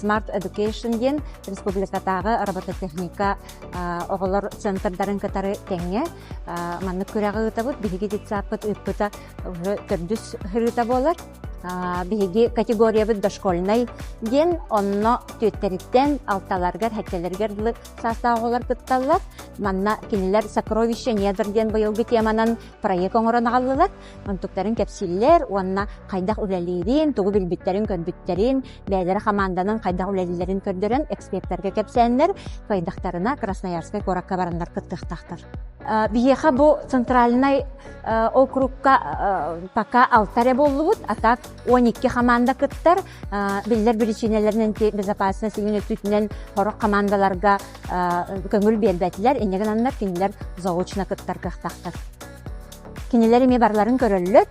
Smart Education диэн республикатааҕы робототехника оҕолор центрдарын кытары тэҥҥэ маннык күрэҕи ыытабыт. Биһиги детсадпыт ыыппыта төрдүс ырыта буолар. Биһиги категориябыт дошкольнай диэн, онно түөттэриттэн алталаргар, хэккэлэригэр дылы саастаах оҕолор кытталлар. Манна кинилэр «Сокровища недр» диэн быйылгы теманан проект оҥорон аҕаллылар. онтуктарын кэпсииллэр уонна хайдах үлэлиирин, тугу билбиттэрин-көрбүттэрин, бэйэлэрэ хамаанданан хайдах үлэлииллэрин көрдөрөн экспертэргэ кэпсээннэр, кыайдахтарына Красноярскай куоракка бараннар кыттыахтаахтар. Биһиэхэ бу центральнай округка пока алта эрэ буоллубут, а так он икки хамаанда кыттар. Биллэр биричиинэлэринэн безопасность иҥин өттүтүнэн хорох хамаандаларга көҥүл биэрбэтилэр, иннигин аннар кинилэр заочно кыттар кыахтаахтар. Кинилэр эмиэ барыларын көрөллөр,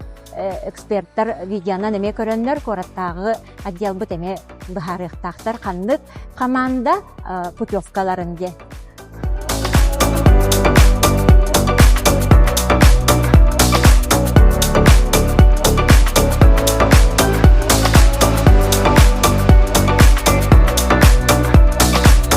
экспертар видеонан эмиэ көрөннөр, куораттааҕы отделбыт эмиэ быһаарыахтаахтар ханнык хамаанда путевкаларын диэн.